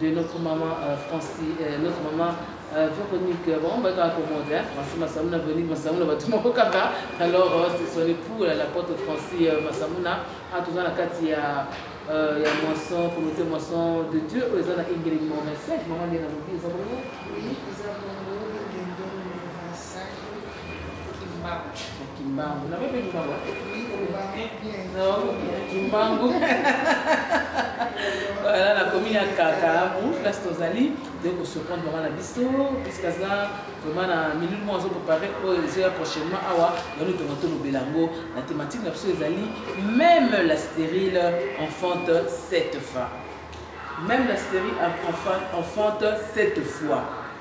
de notre maman euh, Francis, euh, notre maman euh, Véronique, euh, bon, bah, quand on hein, Francis Massamouna, Véronique Massamouna, bah, tout le monde kaka. Alors, euh, c'est son époux, la porte Francis euh, Massamouna, a ah, toujours la carte, il y a euh, ya moisson communauté moisson de dieu oyo eza na ingeli moma 5 mama nde na lobi eza bongo Kimbangu. Na bebe Kimbangu. Kimbangu. Voilà la commune à Kakabu, place Tozali, de ko surprendre vraiment la biso, puisque ça vraiment na milieu moi zo préparer pour les heures prochainement awa, dans le tour de Belango, la thématique la biso ezali même la stérile enfante cette fois. Même la stérile enfante cette fois.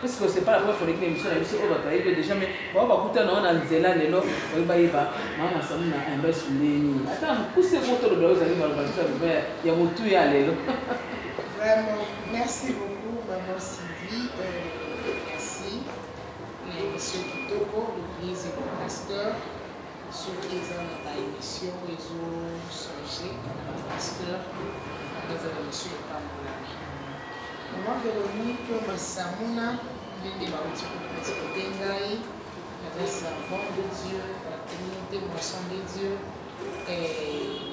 Parce que c'est pas la première fois que émission na biso oyo bato bayebi déjà mais bao bakutana wana nzela lelo oyo bayeba mama samu na imbes ndeni ata mokuse moko toloba ozali maloba biso ya loba ya motu ya lelo vraiment merci beaucoup maman sylvie euh, merci na émission kitoko le vieux pasteur soki eza na ba émission oyo ezo songe pasteur anga eza na misu epambolami mama véronique masamuna ndenge bauti kopresente ngai avec servant de dieu la communauté moisson de dieu eh,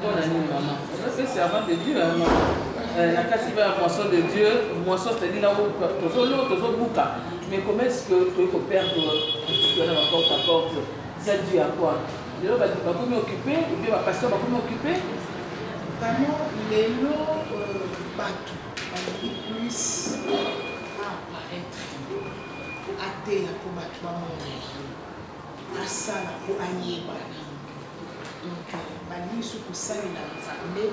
Pona nini maman? Oza se servant de Dieu hein maman. Euh, na kasi ba moisson de Dieu, moisson c'est-à-dire là où tozo lo tozo buka. Mais comment est-ce que tu peux perdre tu as porte à porte? Ça dû à quoi? Lelo ba ba komi occupé, ou bien ba pasteur ba komi occupé? Vraiment lelo euh, bato balingi plus apparaître ateya mpo bato bamona ye asala mpo ayebana donc balingi so kosalela nzambe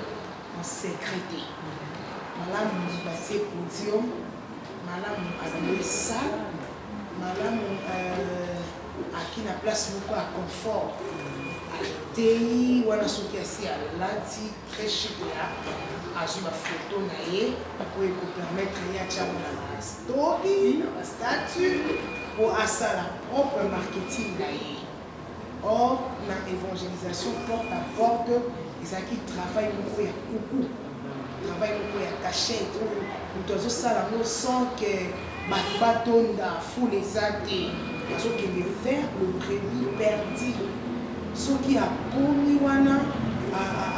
en secret te malamu batie podium malamu abimi sale malamu euh, aki na place moko ya confort ateyi wana soki asi alati très chic ya azwi bafoto na ye oyo ekopermettre ye atyango na bastory na bastatut mpo asala propre marketing na ye Or, na evangelisation porte à porte, ezalaki travail moko ya kuku, travail moko ya cachette oyo moto azosala yango sans que bato batonda fule eza te azokende vers le brebis perdu soki akomi wana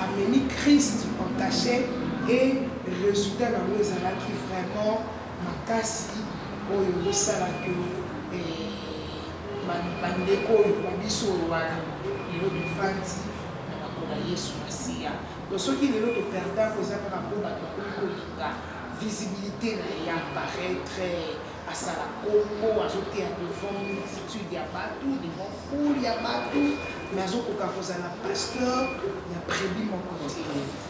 amemi christ en cachet et résultat nango ezalaki vraiment makasi oyo ezosala que eh, bandeko oyo na biso oyo wana lelo bifandi na bakola yesu masiya to soki lelo toperda koza kaka mpo bato bakomi kolinga visibilité na ye ya paraitre asala kongo azoteya devant multitude ya bato devant foule ya bato mais azokoka kozala pasteur ya prebi moko te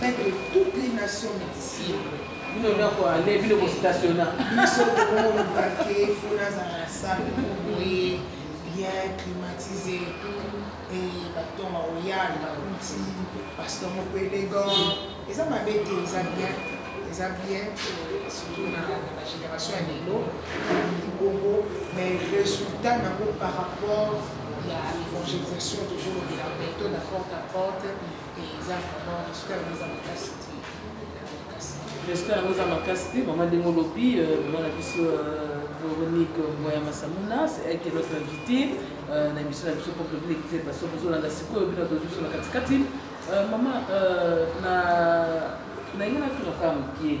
Fait de toutes les nations d'ici. Bino nako aller bino ko stationna. Biso ko mbake fona za la salle ko boye bien climatisé tout et baton ma oyal ba kuti pasteur moko élégant. Eza mabe te eza bien. Eza bien surtout na la génération ya lelo. Bongo mais résultat nango par rapport à l'évangélisation toujours de la méthode à porte à porte. J'espère yango eza makasi te mama ndenge olobi euh, mama na biso euh, véronique moya masamuna c'est elle qui est notre invité euh, na émission na biso peuple bilekize baso bozolanda sikoyo bino tozo biso na katikati mama na nainga natuna kaka mokie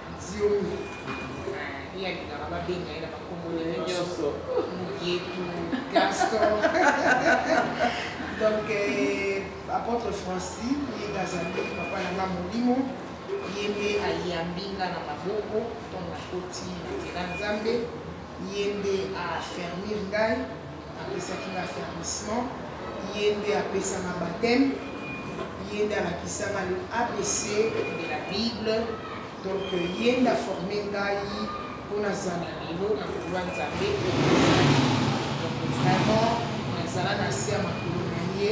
Diomi. Ye alingaka babenga ye na bakombo ndenge nyonso. Mugetu, Gaston. Donc euh, apôtre Francis ye nde azali papa na nga molimo ye nde ayambi nga na maboko ntongo nakoti nzela Nzambe ye nde afermir ngai Apesaki nga affermissement, ye nde apesa nga bapteme, ye nde alakisa nga le ABC de la Bible, donc ye nde aforme ngai mpo nazala lelo na koloba Nzambe oyo nazali. Donc vraiment nazala na se ya makolo na ye.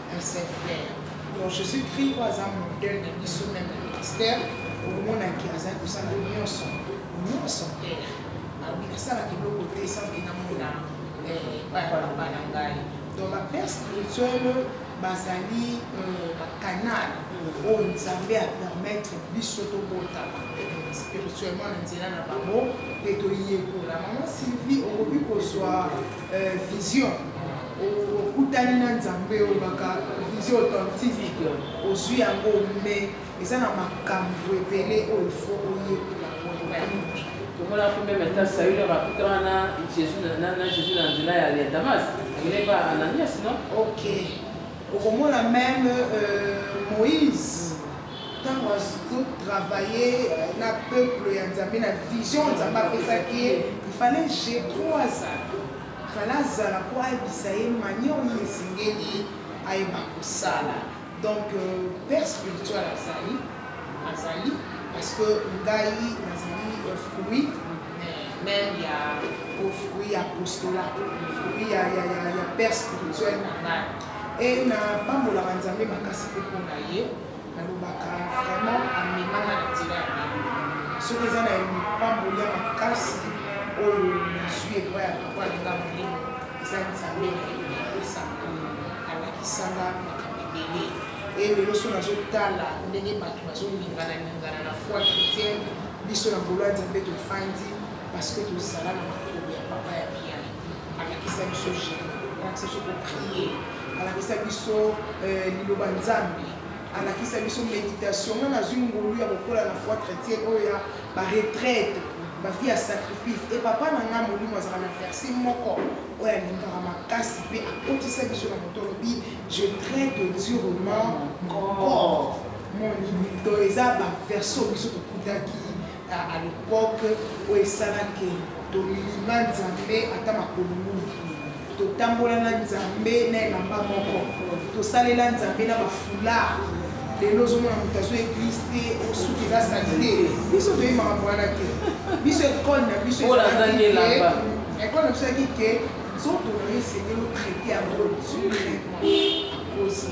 donc je suis pris oyo aza modèle na biso meme na ministère omonaki azali kosala nyonso nyonso père alobi nasalaka eloko te sanke namona epai ya papa na ngai donc bapère spirituel bazali bacanal oyo nzambe apermettre biso tobotama spirituellement na nzela na bango mpe toyekola mama sylvie okoki kozwa vision okutani na nzambe olobaka vision authentique ozwi yango me eza na makambo ebele oyo fo oyekola tomona ko meme ata saule bakutana na jésus na jésus na nzela ya damas akende pa ananias no ok okomona meme euh, moïse ntango azotravaille na peuple ya nzambe na vision nzambe apesaki ye ifallait je crois azala Fala azala po ayebisa ye manière oyo esengeli ayeba kosala. Donc euh, père spirituel azali azali parce que ngai nazali euh, fruit même ya au fruit ya apostolat fruit ya, ya, ya, ya père spirituel na ngai e napambolaka nzambe makasi mpe mpo na ye nalobaka vraiment amemanga na nzela ya bino soki eza na lipamboli ya makasi oyo nazwi epai ya papa alinga molimo eza nzambe na yo napesa alakisanga makambo ebele e lelo so nazotala ndenge bato bazolingana lingana na foi chrétienne biso na ngolo ya nzambe tofandi parce que tozala na makolo ya papa ya biai alakisa biso jeu alakisa biso koprie alakisa biso euh, liloba nzambe alakisa biso méditation nga nazwi ngolu ya kokola na foi chrétien oyo ya baretraite bafi ya sacrifice e papa na ngai molimo azalaka na verse moko oyo alingaka makasi mpe akotisa biso na moto olobi je traite durement mon corps mon limito eza baverse oyo biso tokutaki A À l'epoque oyo esalaki tolima Nzambe ata makolo mingi totambola na nzambe na elamba moko tosalela nzambe na bafula lelo ozomona moto azo eglise te osuki eza sali te biso toyebi makambo wana te biso ekole na biso ekole na biso yaki ke nzoto na yo esengeli otraite yango directement akosi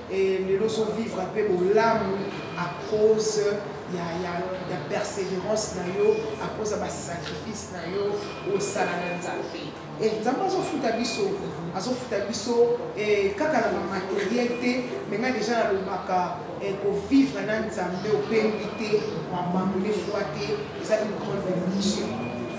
Et lelo ozo vivre mpe bolamu à cause ya, ya, ya persévérance na yo à cause ya basacrifice na yo osala na nzambe e eh, nzambe azofuta biso azofuta biso e, kaka na bamateriel te me ngai deja nalobaka e, kovivre na nzambe opengwi te wabandone foi te eza une grande bénédiction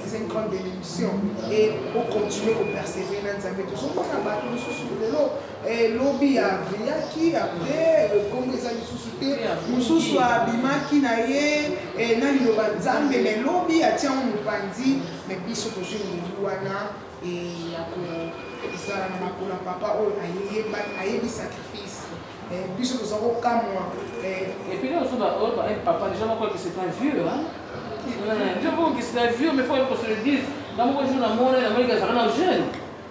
eza une grande bénédiction e ocontinue kopersévere na nzambe tozomona bato mosusu lelo Eh, lobi abiyaki apres eh, kombo eza lisusu te mosusu abimaki na ye eh, na liloba nzambe me lobi atiango mopanzi me biso tozwi mobu wana ya kozala na makolo ya papa oyo ayebi sacrifice biso toza kokamwa epuis ozo baoyo bayebi papa deja moko que c'est un vieux ndio moko que c'est un vieux mais faut qu'on se le dise na moko jour na mona na moni kazaka na jeune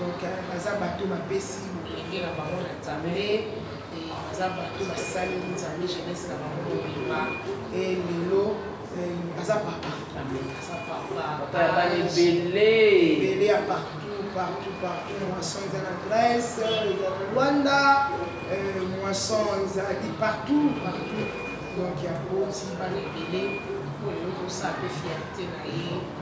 donc euh, baza bato bapesi molenge na bango na nzambe baza bato basali nzambe jeunesse na bango mobimba e lelo euh, aza papa aza papaebele ya partout partout partout moisson eza na grèce eza na rwanda euh, moisson ezali partout partout donc ya boti bana ebele oyo okosa mpe fierte na ye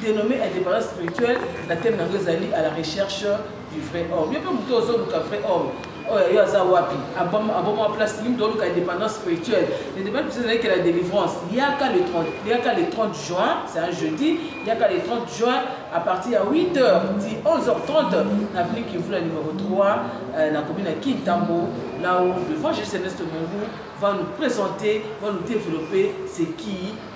dénommé indépendance spirituelle na teme nango ezali à la recherche du vrai homme yo mpe moto ozoluka vrai homme oyo yo aza wapi aboma place nini moto oluka indépendance spirituelle indépendance spirituelle ezalaki la délivrance yaka le 30 yaka le 30 juin c'est un jeudi yaka le 30 juin à partir ya 8 heures ti 11 heures 30 na venu kivula numéro 3 euh, na commune ya kintambo là où le vent jésus céleste mongu va nous présenter va nous développer c'est qui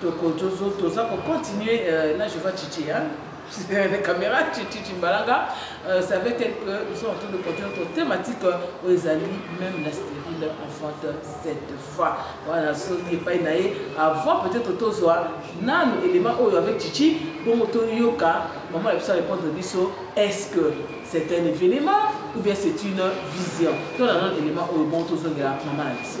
Toko tozo toza ko continuer euh, na je vois Chichi hein. les caméras Chichi Chimbalanga euh, ça veut dire que nous sommes en train de continuer notre thématique euh, aux amis même la stérile enfante cette fois voilà Sony epai na ye avant peut-être tozwa nanu élément oyo avec Chichi bongo toyoka maman na biso répondre biso est-ce que c'est un événement ou bien c'est une vision tolanda élément oyo bongo tozongela maman na biso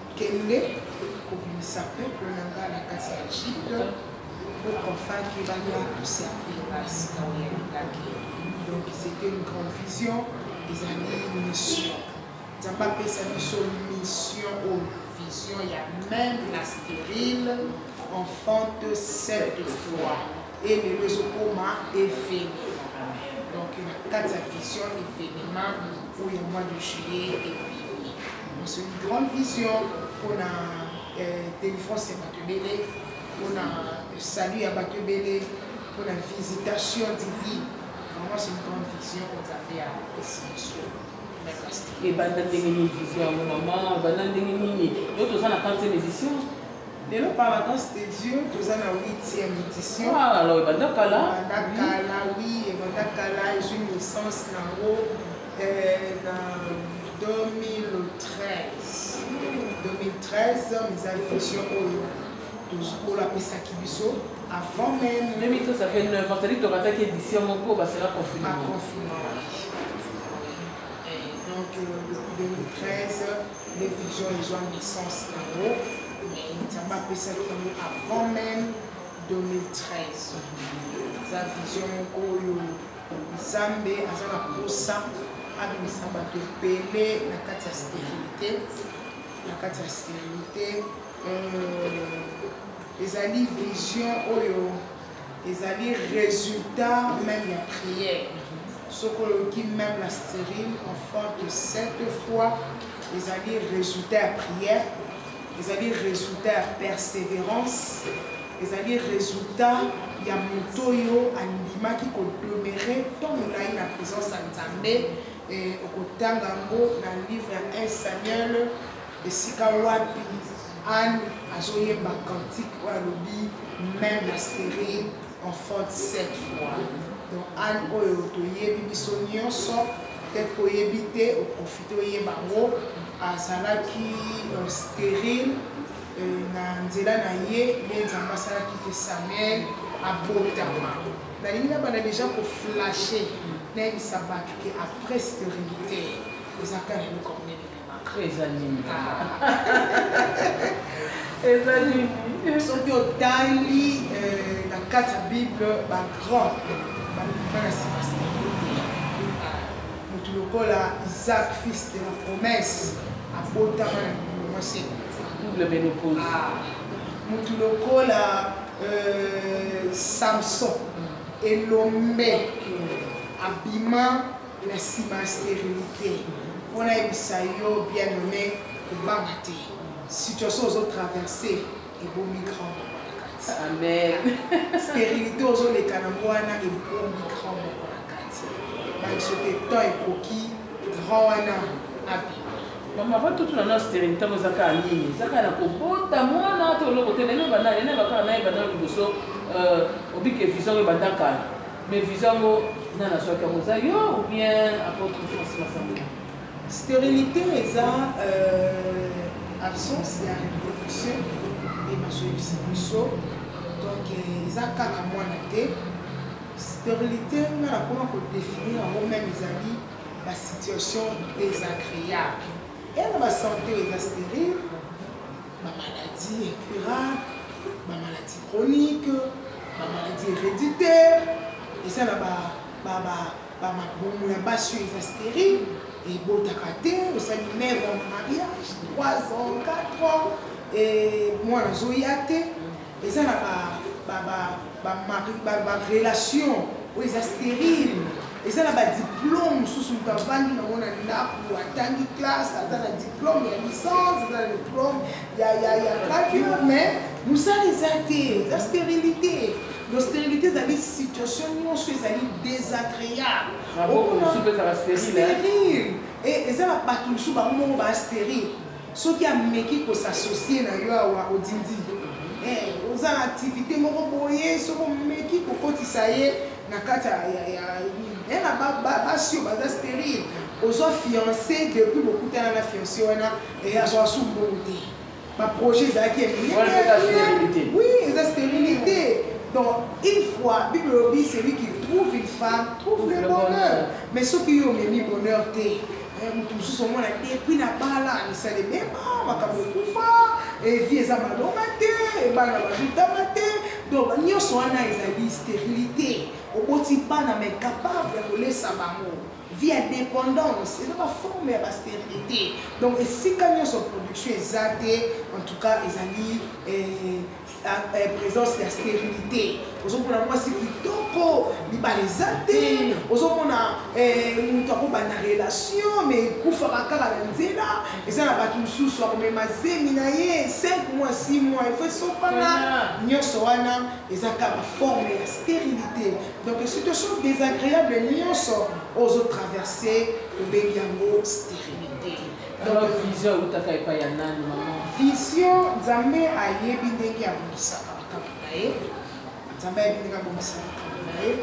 kende kobimisa peuple na nga na kati ya jide pour qu'enfin kebania koservir na sika oyo yalingaki donc c'était une grande vision ezali mission nzambe apesa biso mission oyo vision ya même la stérile enfante cette fois e lelo ezokoma evenema donc na kati ya vision evenema oyo ya mois de juillet ebimi donc une grande vision mpona euh, délivrance ya bato ebele mpona euh, salut ya bato ebele mpona visitation divine vraiment c'est une grande vision oyo nzambe ya esi biso ebanda ndenge nini vision yango mama ebanda ndenge nini yo toza na 4 édition lelo par la grâce de dieu toza na 8e édition alors ebanda kala ebanda kala oui ebanda kala ezwi naissance nango na 2013 2013 eza fusion oyo tozokolo apesaki biso avant même 2013 ça fait 9 ans c'est-à-dire tokataki édition moko basala confinement donc 2013 nde vision ezwa naissance nango mais nzambe apesaki yango avant même 2013 eza vision moko oyo nzambe aza na mposa abimisa bato ebele na kati ya sterilité na kati ya sterilité euh, ezali vision oyo ezali resultat meme ya prière soki oyoki meme na stérile en forme de sept fois ezali résultat ya prière ezali résultat ya persévérance ezali résultat ya moto oyo andimaki kodomere to molai na présence ya nzambe okotanga yango na livre ya 1 samuel esika wapi Anne azoyemba cantique oyo alobi même la série enfante sept fois donc anne oyo toyebi biso nyonso peut-être koyebi te oprofite oyeba yango azalaki euh, stérile euh, na nzela na ye nde nzambe asalaki te samuel abotama nalingi nabanda deja koflashe nayebisa bato ke après stérilité ezaka na eloko monene Eza nini? Eza nini? Soki otali euh, na kati ya Bible ba grand balukaka Sebastien motu lokola Isaac fils de la promesse abotama na mokolo mwasi double menopause ah. motu lokola euh, Samson elombe abima na nsima sterilité mpo nayebisa yo bien nommé kobanga te situation ozo traverse ebomi grand moko na kati amen sterilité ozoleka na wana ebomi grand moko na kati bansote temps ekoki grand wana abi mama batutuna na sterilité yango eza kaka nini eza kaka na kobota mwana to oloko te lelo ebanda lelo ebakaka na ebanda liboso euh, obike vision oyo ebanda kala Mais visa yango nani azwaki yango eza yo ou bien apôtre france masamba stérilité eza euh, absence ya reproduction nde bazoyebisa biso donc euh, eza kaka mwana te stérilité nga nakoma kodefinir yango meme ezali basituation désagréable ena basante eza stérile ba maladies incurables ba maladies chroniques ba maladies héréditaires eza na ba ba ba ba mabomo ya basi oyo eza stérile ebotaka te osali mève en mariage 3 ans 4 ans mwana azoya te eza na ba ba ba ba mari ba ba relation oyo eza stérile eza na ba diplôme mosusu moto avandi nango na ndako atangi classe aza na diplôme ya licence aza na diplôme ya ya ya graduat mais mosala eza te eza stérilité donc stérilité ezali situation nyonso ezali désagréable stérile eza na bato mosusu bango moko ba stérile Soki ameki ko s'associer na yo awa odindi ye. Eeh oza na activite moko boye soki omeki ko kotisa ye na kati ya ya ya na ba ba basi oyo baza sterile ozwa fiance depuis bokutana na fiance wana eh, azwaka su mbongo te ba projet ezalaki ya minene oui eza sterilité donc une fois bible elobi celui qui trouve une femme trouve le bonheur mais soki yo omemi bonheur te Eh, moto mosusu omona te epui na bala misala ebeba makambo ekufa evi eh, eza malonga te ebana eh, babitama te donc nyonso wana ezali stérilité oboti bana ma incapable ya kolesa bango vie ya dépendance eza baforme ya bastérilité donc esika nyonso production eza te en tout cas ezali présence ya stérilité ozomona mwasi kitoko libala eza te ozomona eh, moto akobanda relation me ekufaka kaka na nzela eza na bato mosusu akomema zemi na ye 5 mois 6 mois efo esopana nyonso wana eza kaka forme ya stérilité donc situation désagréable nyonso ozotraverse tobengi yango stérilité Donc vision utaka epai ya nani maman? Vision Nzambe ayebi ndenge abongisaka makambo na ye. Nzambe ayebi ndenge abongisaka makambo na ye.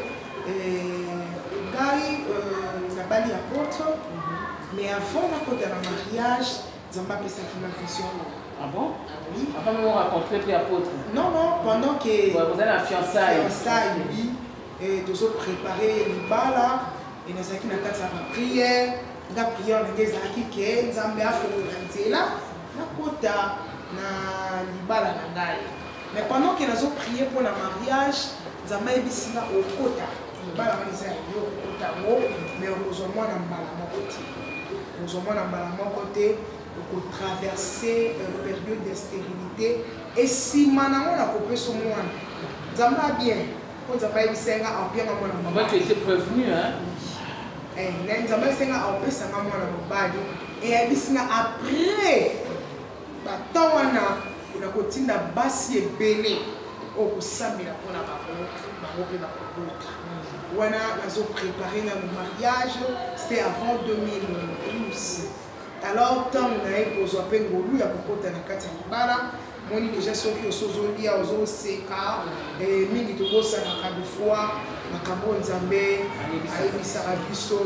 Ngai euh, nabali ya poto mhm. mais avant nakota na mariage Nzambe apesaki na vision oyo. Ah bon ah Oui. Avant même on raconte que tu es apôtre Non, non, pendant que. Vous avez la fiançailles. Fiançailles, oui. Et tozo préparer libala et nazalaki na kati ya ba prière nga prière ndenge ezalaki ke nzambe afongola nzela nakota na libala na ngai mais pendant ke nazo prier mpo na mariage nzambe ayebisi nga okota libala wana eza yango okota yango mais okozwa mwana mbala moko te okozwa mwana mbala moko te okotraverse euh, période ya stérilité esima nango nakopesa mwana nzambe abien Mpo Nzambe ayebisa nga ampia nga mwana mobali. Tu étais prévenu, hein? Eh, na Nzambe ayebisa nga ampesa nga mwana mobali. Et ayebisi nga après batemps wana na kotinda basi ebele oyo kosambela mpo na bango bango mpe bakobota wana nazo prépare nano mariage c'était avant 2012 alors ntango na ye kozwa mpe ngolu ya kokota na kati ya libala moni deja soki osi ozolia ozoseka eh, mingi tobosanaka bifwa makambo oyo nzambe ayebisaka biso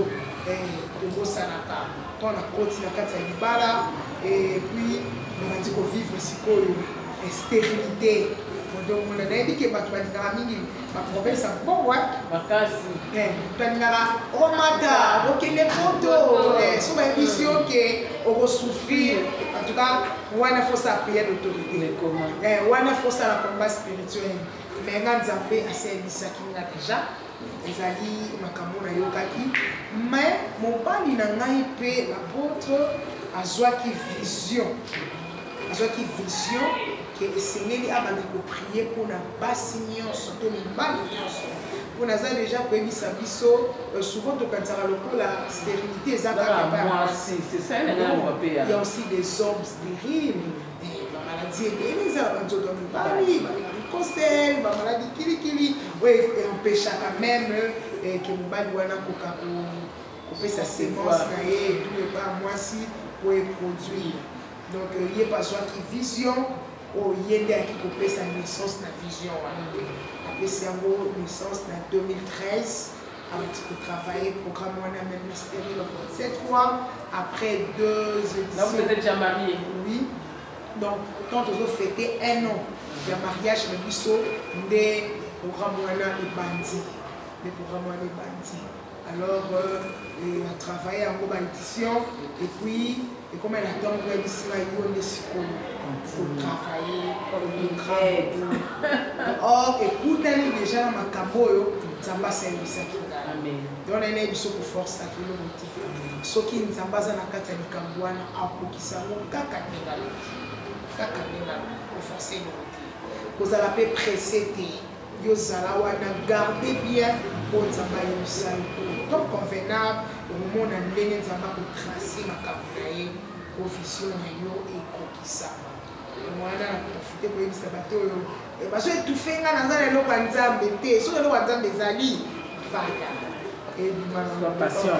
eh, tobosanaka mpo na koti na kati ya libala eh, epuis nabandi kovivre sikoyo sterilité odongona nayebi ke bato balingaka mingi bapromesa mbongwa makasi eh, tolingaka omata okende poto eh, so bayebisi yo ke okosouffrir en tout cas wana fosala prière d'autorité eh, wana fosala combat spirituel mais nga nzambe asi ayebisaki nga déjà ezali makambo nayokaki mais mobali na ngai mpe apôtre azwaki vision azwaki vision ke esengeli abanda koprie mpo na basi nyonso to mibali nyonso mpo naza deja koyebisa biso euh, souvent tokanisaka lokola stérilité eza kakayasi aussi des hommes stériles eh, bamaladi ebele eza na banzoto ya mibali balaricosel bamaladi kilikili oyo e-, empêchaka meme eh, ke mobali wana koka kopesa semence na ye etu epa mwasi mpo eproduire Donc ye bazwaki vision oyo oh, ye nde ayaki kopesa naissance na vision wana apesi yango naissance na 2013 awuti kotravaille programme wana même na sterile cette fois après deux éditions oui donc quand tozo fêter un an ya mariage na biso nde programme wana ebandi nde programme wana ebandi alors euh, a travaille yango ba édition et puis ekoma na ntango oyebisi ngai yo nde sikoyo kotravaille or ekutani deja na makambo oyo nzambe asalimbisaki donc naye nayebi so koforsaki eloko te soki nzambe aza na kati ya likambo wana akokisa yango kaka ndenge aloki kaka ndenge aloki koforse eloko te kozala mpe presse te yo zala wana garde bien oyo nzambe ayebisani to convenable okomona ndenge nzambe akotrace makambo na ye profesio na yo ekokisama wana na profite koyebisa bato oyo eh, bazo etufe nga naza na eloko ya nzambe te soki eloko ya nzambe ezali fanda ebima na passion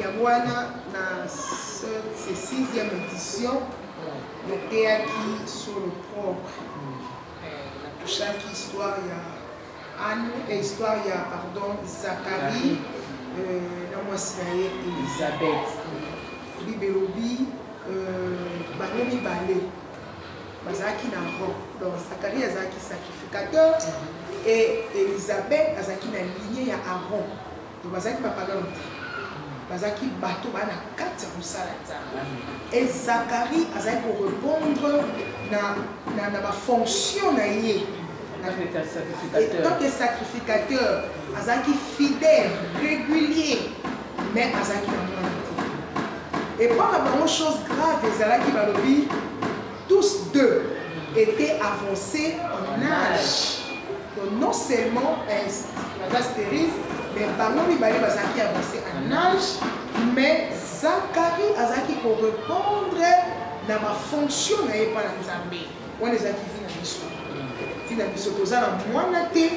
yango wana na ce sixième édition nateyaki sur le propre natouchaki histoire ya ane eh, histoire ya pardon zakarie euh, na mwasi na ye elisabeth bibelobi euh, bango mibale bazalaki na rang donc zakaria azalaki sacrificateur mhm. et elisabeth azalaki na ligne ya aron donc bazalaki bapagano te bazalaki bato baa na kati ya mosala ya nzambe e zakari azali korepondre na, na, na bafonction na ye tant que sacrificateur azalaki fidèle régulier mais azalaki na mwana te epa na bango chose grave ezalaki balobi tous deux étaient avancés en âge donc non seulement baza stérile mais bango mibale bazalaki avancé en âge mais zakari azalaki korépondre na bafonction na ye mpa na nzambe wana ezalaki vi na biso vi na biso toza na mwana te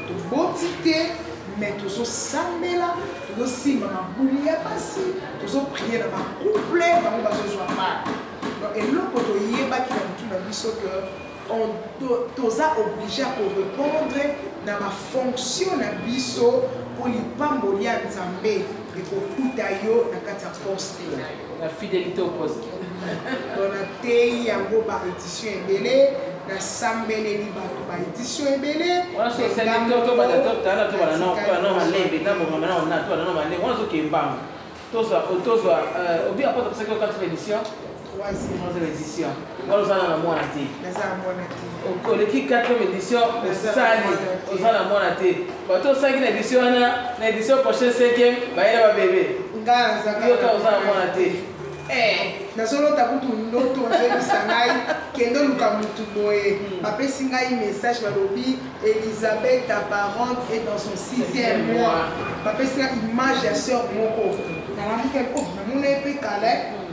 toboti te me tozosambela tozosimba mabuli ya basi tozoprie na bacouple bango bazozwa mare donc eloko toyebaki na motu na biso ke toza oblige ya korepondre na bafonction na biso mpo lipamboli ya nzambe ekokuta yo na kati ya poste na yo La fidélité au poste. Donc na teyi yango ba édition ebele na sambeleli bato ba édition ebele. Wana so sali to to ba to ta na to ba na ko na ma lembe na bo mama na na to na ma lembe wana so ke mbanga. To so to so obi apota parce que quand édition. Troisième édition. Ngolo zana na mwana te. Naza na mwana te. Okoleki 4e édition osali oza na mwana te. Bato osalaki na édition wana na édition prochaine 5e bayela ba bebe. Nga naza ka. Yo ka oza na mwana te. Eh, nazolota kutu ndoto ozoyebisa ngai kende oluka motu boye hmm. bapesi ngai message balobi elisabeth ta parente est dans son sixième mois bapesi ngai image ya sœur moko nalamuka oh, namona ye mpe kala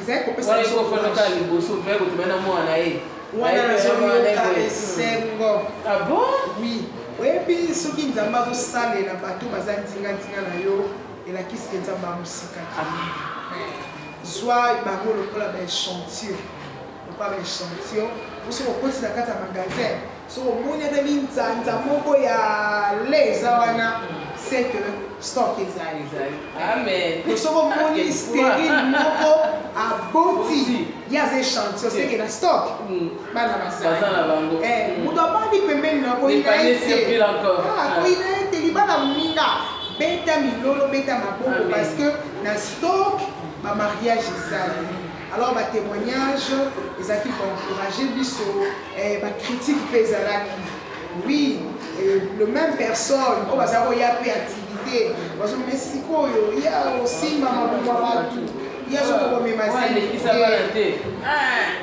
ezali kopesa wana ekofandaka ya liboso mpe kotuma na mwana na ye wana nazoyoka esengo abo ah oui oyebi soki nzambe azosalela bato baza nzinganzinga na yo elakisi ke nzambe amosika te zwa bango lokola baechantio lokola baechantio oso kokotisa kati ya magasin soki omoni ata linzanza moko ya le eza wana c'est que stock ezali soki omoni sterile moko aboti ye aza echantio seke na stock mm. bana bazali eh, moto abandi pembeni na koyina ye te ah, koyina ye te libala moninga beta milolo beta maboko parce que na stock bamariage ezali alors ba témoignage ezalaki koencourage biso eh, bacritique mpe ezalaki oui eh, le même personne oyo baza koya mpe activité bazomeme sikoyo ya osimba mabuma bato ye azoki komema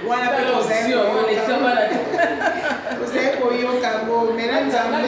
wana mpe tozali koyoka yango mena nzambe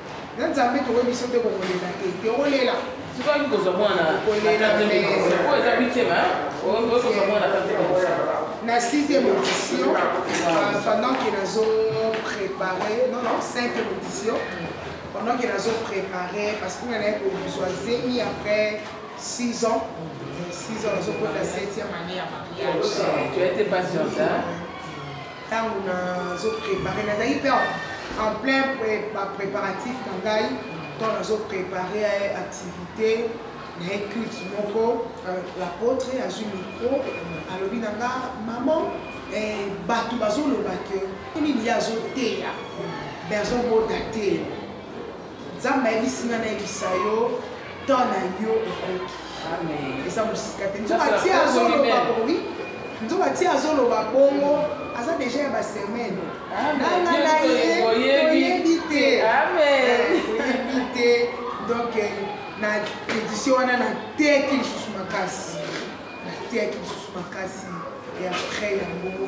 na nzambe tokoki biso nde kokolela te tokolela soki kozwa mwana oyo eza bitema okozwa mwana na sixième audition euh, pendant que nazo préparé non non cinquième audition pendant que nazo préparé parce que nanaye kozwa zemi après six ans six ans nazokota septième année ya mariage ntango nazo prépare nazalaki mpe en plein préparatif na ngai ntango nazo prépare activité na ye culte moko euh, l'apôtre azwi micro alobi na nga maman eh, bato bazoloba ke nini ye azoteya me azobota te Nzambe ayebisi nga nayebisa yo temps na yo ekoki eza mosika te nzoka ti azoloba bobi nzoka ti azoloba bongo aza deja ya basemaine nanga na ye toyebi te toyebi te donc eh, na édition wana nateki lisusu makasi nateki lisusu makasi et après yango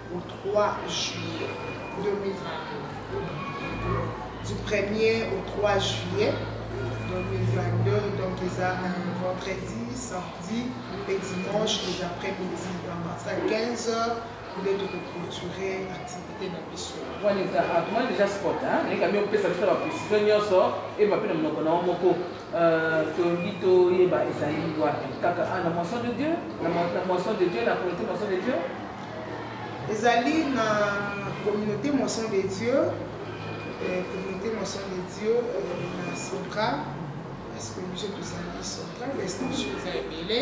au 3 juillet 2022 du 1er au 3 juillet 2022 donc eza un vendredi samedi et dimanche les après-midi à partir de 15 heures nde tokoclôture activité na biso wana eza akomani deja sport ekami opesa biso na baprecision nyonso eyeba mpe na monoko na yango moko euh, tolingi toyeba ezali wapi kaka ah, na moisson de dieu na moisson de dieu na comité moisson de dieu ezali na communauté moisson de dieu euh, communauté moisson de dieu euh, na central parce que biso tozali central mais station eza ebele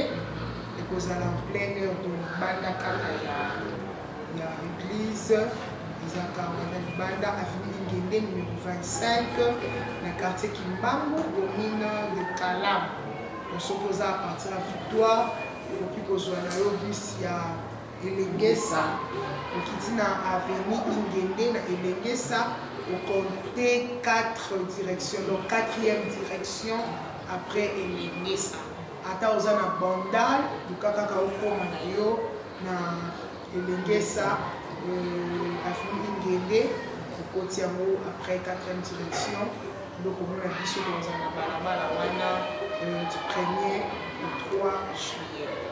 ekozala en plein heure to libanda kaka ya ya église ezalaka wana libanda avenue ingende numero 25 na quartier kimbangu commune de kalam soki oza à partir ya victoire okoki kozwa na yo bus ya Elengesa, okiti na avenue Ingende na Elengesa, okonte 4 direction, donc 4e direction après Elengesa. Ata oza na bandal, luka kaka okoma na yo na Elengesa, euh, avenue Ingende, okoti yango après 4e direction, donc omona biso toza na balabala wana euh, du 1er au 3 juillet.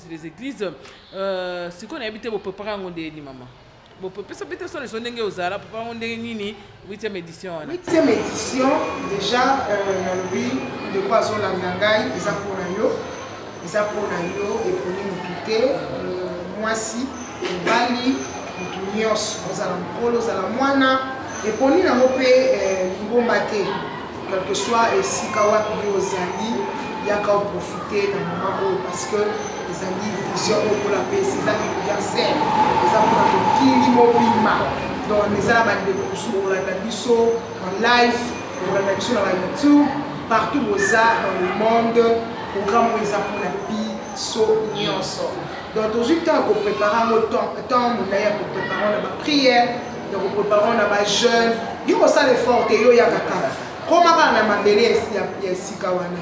les églises euh, sikoyo nayebi te bopepaka yango nde yeni mama bopesa mpe te solo eso ndenge ozala papa yango ndenge nini 8e édition wana 8e édition déjà euh, nalobi ndeko azolanda ngai eza mpo na yo eza mpo na yo eponi motu te euh, mwasi mobali motu nyonso ozala mokolo ozala mwana eponi nango mpe lingomba te quelque soit esika wapi yo ozali yaka oprofite na mama oyo parce que ezali vision oyo mpona pesi eza universel eza mpona mokili mobima donc eza na bandeko mosusu kolanda biso en live kolanda biso na bayoutube partout boza dans le monde programme oyo eza mpona biso nyonso donc tozwi ntango ya koprépare yango temps molai ya koprépare na baprière ya koprepare na bajeune yo kosala effort te yo yaka kaka koma kaka na mabele ya esika wana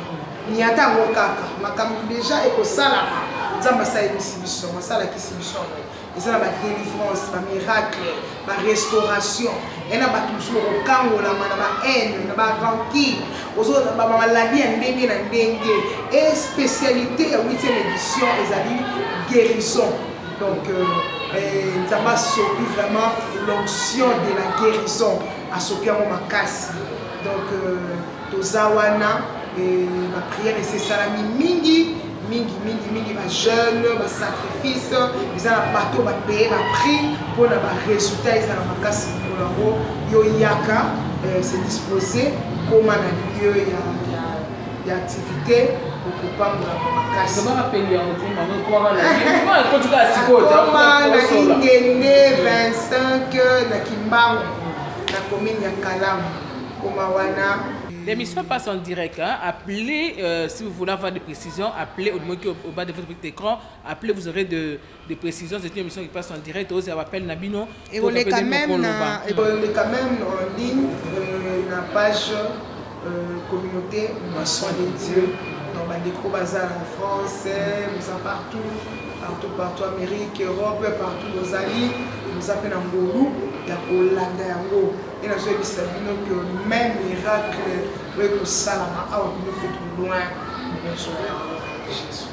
niata yango kaka makambo deja ekosalama nzambe asalelisi biso yango asalakisi biso yango eza na badelivrance bamiracle barestauration ya na bato mosusu okokangolama na bahaine na barankine bamaladi ya ndenge na ndenge e spécialité ya 8e édition ezali guérison Donc, euh, eh, Nzambe asopi vraiment l'onction de la guérison, asopi yango makasi. Donc, euh, toza wana, eh, ba prière esesalami mingi, mingi, mingi, mingi, ba jeune, ba sacrifice, eza na bato ba paye ba prix mpo na ba résultat ezala makasi mokolo yango, yo yaka, eh, se disposer, koma na lieu ya ya activité okopambolama makasi na ingende 25 na kimbangu na commune ya kalamu koma wana L'émission passe en direct. Hein. Appelez, euh, si vous voulez avoir des précisions, appelez au niveau au bas de votre écran. Appelez, vous aurez de, de précision c'est une émission qui passe en direct aux appels na bino et on est quand même on est quand même en ligne euh, na page euh, communauté moisson de Dieu dans ma déco bazar en France euh, nous en partout partout partout Amérique Europe partout nos amis nous appelle en Golou ya kolanda yango et na soyez bisa bino que même miracle oyo ekosalama awa bino kutu loin na nso yango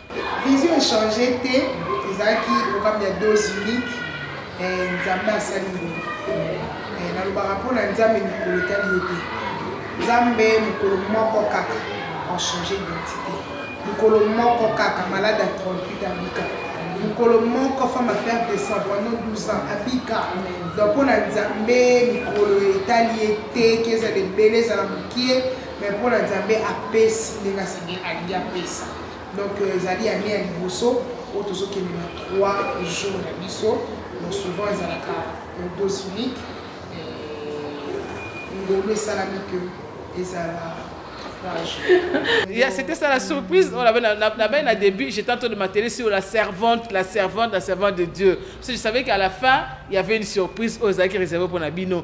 Vision echange te ezalaki programme ya dose unique eh, nzambe asali bongo eh, nalobaka mpo na nzambe mikolo etali yo te nzambe mokolo moko kaka enchange identité mokolo moko kaka malade ya 38 abika mokolo moko femme apere décembre pendant 12 ans abika donc mpo na nzambe mikolo etali ye te ke ezala ebele ezala mokie mais mpo na nzambe apesi ndenge asengi alingi apesa Donc euh, ezali année ya liboso oyo tozokende na 3 jours na biso donc souvent ezalaka dose unique ngolu esalami que ezala Yeah, c'était ça la surprise. On avait la début, j'étais en train de m'atteler sur la servante, la servante, la servante de Dieu. Parce que je savais qu'à la fin, il y avait une surprise aux acquis réservés pour Nabino.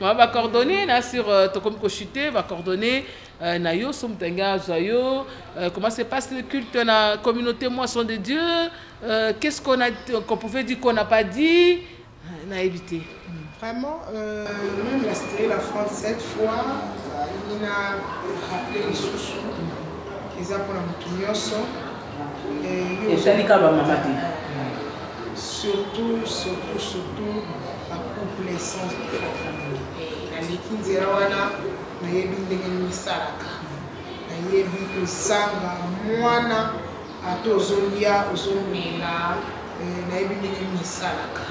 ma ba coordonnées na sur euh, tokomi ko chuter ba coordonnées euh, na yo so moto alingi azwa yo euh, comment se passe le culte na communauté moisson de dieu euh, qu'est ce qu'on a qu'on pouvait dire qu'on n'a pas dit euh, na éviter vraiment euh, même la style la france cette fois il a rappelé lisusu eza mpona moto nyonso eh, esali kaka bamama te surtout surtout surtout bacouple sans naleki nzela wana nayebi ndenge misalaka nayebi kozanga mwana ata ozolia ozomela eh, nayebi ndenge misalaka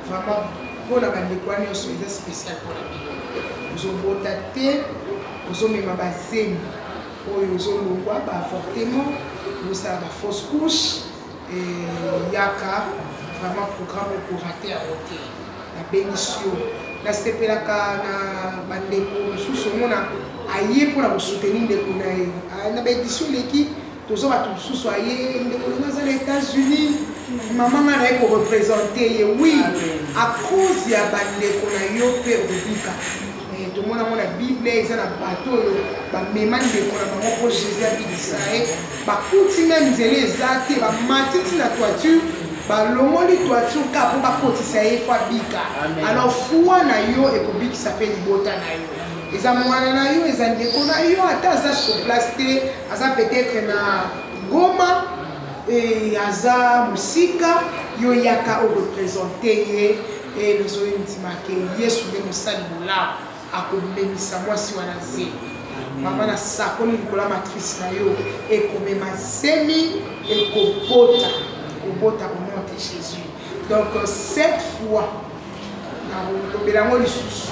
vraiment mpona bandeko wana nyonso eza spécial mpona bino ozobota te ozomema bazemi oyo ozo longwa ba avortement bosala ba fausse couche eh, yaka vraiment programme okorate yango te nabenisi yo nasepelaka na bandeko mosusu omona aye mpo na kosoutenir ndeko na ye ah, na baédition eleki toza bato mosusu aye ndeko na aza na états-unis mama nga naye korepresente ye wi a cause ya bandeko na yo mpe obika Eh, tomona yango na bible eza na bato oyo bamema ndeko na bango mpo jésus abikisa ye bakuti meme nzela eza te bamati ntina toiture balongoli toiture ka mpo bakotisa ye mpo abika alors fua na yo ekobikisa mpe libota na yo eza mwana na yo eza ndeko na yo ata aza sur place te aza peut-être na goma eh, aza mosika yo yaka orepresente ye Ee, nazongi ndima ke Yesu nde mosali bolamu akomemisa mwasi wana zemi. Mama, nasakoli likolo ya matrice na yo ekomema zemi ekobota kobota au nom de Jésus. Donc euh, cette fois nakolobela yango lisusu,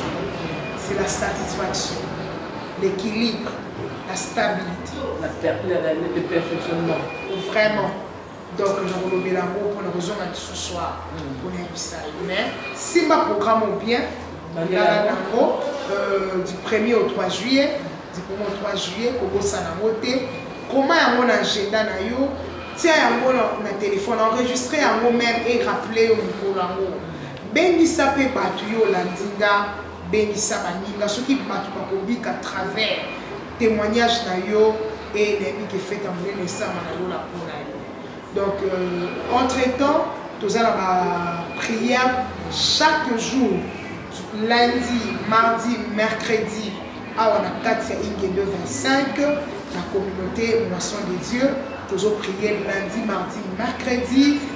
c'est la satisfaction, l'équilibre, la stabilité. La, la, la, le perfectionnement. Vraiment. donc nakolobela yango mpo nakozonga lisusu a mpona hmm. yebisa ye mais simba programme au bien lala nango euh, du 1er au 3 juillet du 1er au 3 juillet kobosana yango te koma yango na agenda na yo tia yango na telefone enregistre yango meme e rappele yo mokolo yango bengisa mpe bato yo olandi nga bengisa baninga soki bato bakobika travers Temoignage na yo et nayebi ke fete ya monene esama na lola mpo na yo donc euh, entre temps toza na baprière chaque jour lundi mardi mercredi awa na kati ya ingendo 25 na communauté moisson de dieu tozo prier lundi mardi mercredi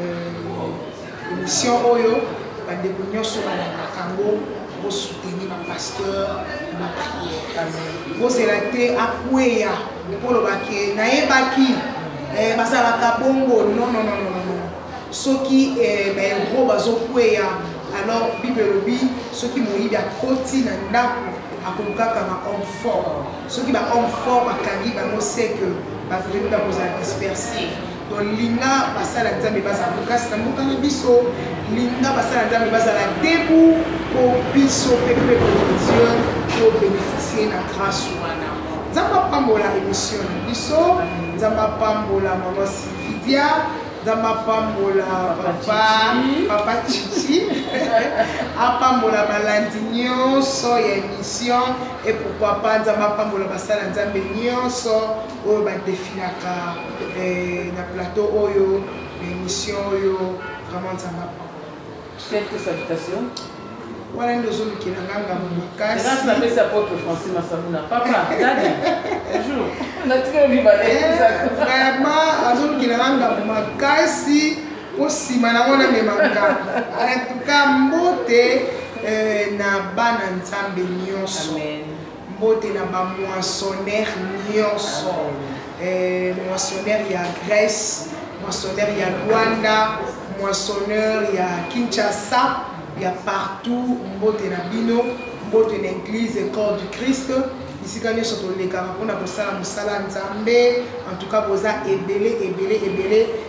euh, émission oyo bandeko nyonso balandaka yango bosuteni bapasteur na prière bozela te akweya mpo olobaki nayebaki eh, bazalaka bongo nonononono soki eh, baero bazokweya alors bible elobi soki moyibi akoti na ndako akolukaka ba homme fort soki ba homme fort bakangi bango seke bapremi bakozala disperse Donc linga basala nzambe bazala kokasi na mboka na biso linga basala nzambe bazala debu mpo biso mpe peuple de dieu tobénéficie na grâce wana nzambe apambola émission na biso nzambe apambola mama sylvidia nzambe apambola papa papa chichi apambola balandi nyonso ya émission et pourquoi pas nzambe apambola basala nzambe nyonso oyo ba defilaka eh, na plateau oyo na émission oyo vraiment nzambe quelques salutations wana nde ozolukela nga ngambo makasiapesi apotre français masabuna papa dadi bonjour vraiment azolukela nga ngambo makasi mpo nsima nango namema ngambo en tout cas mbote eh, na bana nzambe nyonso Mbote na ba moissonnaire nyonso. Eh, moissonnaire ya Grèce, moissonnaire ya Rwanda, moissonneur ya Kinshasa, ya partout mbote na bino, mbote na église corps du Christ. bisika nyonso tolekaka mpona kosala mosala nzambe en tout cas boza ebele ebele ebele